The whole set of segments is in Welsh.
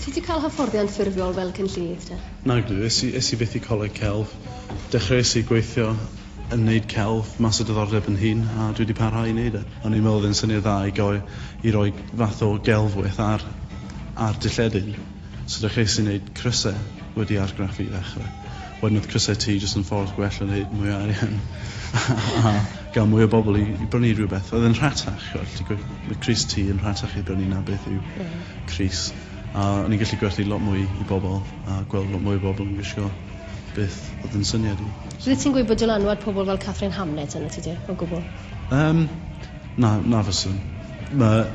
Ti di cael hyfforddiant ffurfiol fel cynllunydd te? Nagdw, es i, es i fyth i coleg celf. Dechreuais i gweithio yn neud celf mas o diddordeb yn hun a dwi di parhau i neud e. O'n i'n meddwl oedd e'n syniad dda i goi- i roi fath o gelfwyth ar ar dy lledyn, so dechreuais i neud crysau wedi argraffu i ddechrau. Wedyn oedd crysau tŷ jyst yn ffordd gwell o wneud mwy o arian a gael mwy o bobl i i brynu rhywbeth. Oedd e'n rhatach, chimod, alli di gwe- mae crys tŷ yn rhatach i brynu na beth yw crys. A o'n i'n gallu gwerthu lot mwy i bobl a gweld lot mwy o bobl yn gwisgo beth oedd yn syniad i. So Wyt ti'n gwybod dylanwad pobl fel Katherine Hamnett arnot ti de, o gwbl? Yym, na, na fyswn. Mae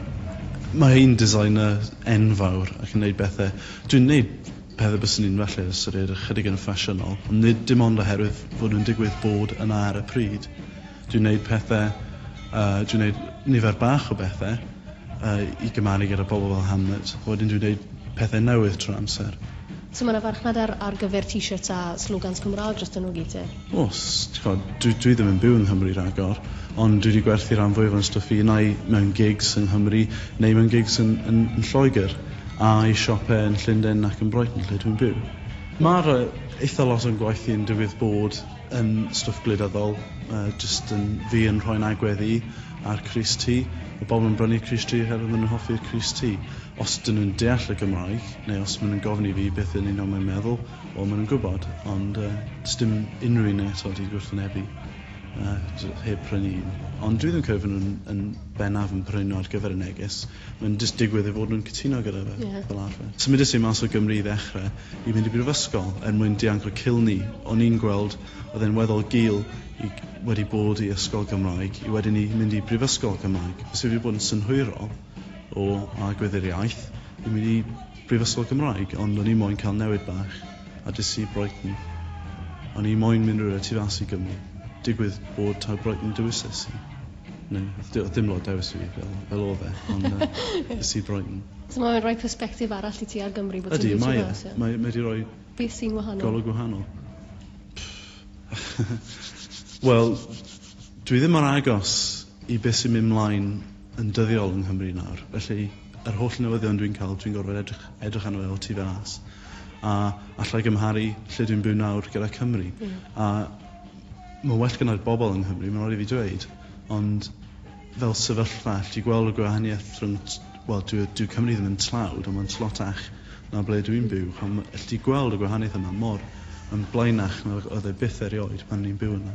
mae hi'n designer enfawr ac yn wneud bethau. Dwi'n wneud Pethau byswn i'n falle ystyried ychydig yn ffasiynol, ond nid dim ond oherwydd fod nhw'n digwydd bod yna ar y pryd. Dwi'n wneud pethau, uh, dwi'n wneud nifer bach o bethau uh, i gymaru gyda pobl fel Hamlet, a wedyn dwi'n wneud pethau newydd trwy amser. So mae yna farchnad ar, ar gyfer t-shirts a slogans Cymraeg dros dyn nhw gyd te? Os, dwi, dwi ddim yn byw yng Nghymru rhagor, ond dwi wedi gwerthu rhan fwyaf o'n stwff i, nai mewn gigs yng Nghymru, neu mewn gigs yn, yn, yn Lloegr. A'i siop e yn Llundain nac yn Brighton lle dwi'n byw. Mae'r eitha lot o'n gwaith i yn digwydd bod yn stwff gwleidyddol, jyst yn fi yn rhoi'n agwedd i ar crys T, ma' pobl yn brynu crys T oherwydd ma' nhw'n hoffi'r crys T. Os 'dyn nhw'n deall y Gymraeg, neu os ma' nhw'n gofyn i fi beth yn union mae'n meddwl, wel ma' nhw'n gwybod, ond yy sdim unrhyw un eto 'di gwrthwynebu yy heb prynu un. Ond dwi ddim yn credu fy' nhw'n yn bennaf yn prynu nhw ar gyfer y neges. Mae'n jyst digwydd ei fod nhw'n cytuno gyda fe. Ie. Fel arfer. Symudes i mas o Gymru i ddechre, i fynd i brifysgol, er mwyn dianc o Kilney. O'n i'n gweld oedd e'n weddol gul i wedi bod i ysgol Gymraeg, i wedyn i mynd i brifysgol Cymraeg. Byse wedi bod yn synhwyrol o agwedd i'r iaith i mynd i brifysgol Gymraeg, ond o'n i moyn cael newid bach, a des i Brighton. O'n i moyn mynd rywle tu fas i Gymru. Digwydd bod taw Brighton dewises i. No, oedd dim lot dewis fi fel, fel oedd e, ond uh, ys i Brighton. So mae'n rhoi perspektif arall i ti ar Gymru bod ti'n Ydy, mae, e. mae, mae di roi... Beth sy'n wahanol? Golwg wahanol. Wel, dwi ddim ar agos i beth sy'n mynd mlaen yn dyddiol yng Nghymru nawr. Felly, yr holl newyddion dwi'n cael, dwi'n gorfod edrych, edrych arno fe o tu fas. A allai gymharu lle dwi'n byw nawr gyda Cymru. Mm. A Mae'n well gyda'r bobl yng Nghymru, mae'n rhaid i fi dweud, ond fel sefyllfa, allet ti gweld y gwahaniaeth rhwng, wel, dyw, dyw Cymru ddim yn tlawd, ond mae'n tlotach na ble dwi'n byw. Chwa, allet ti gweld y gwahaniaeth yma mor yn blaenach nag oedd e byth erioed pan o'n i'n byw yna.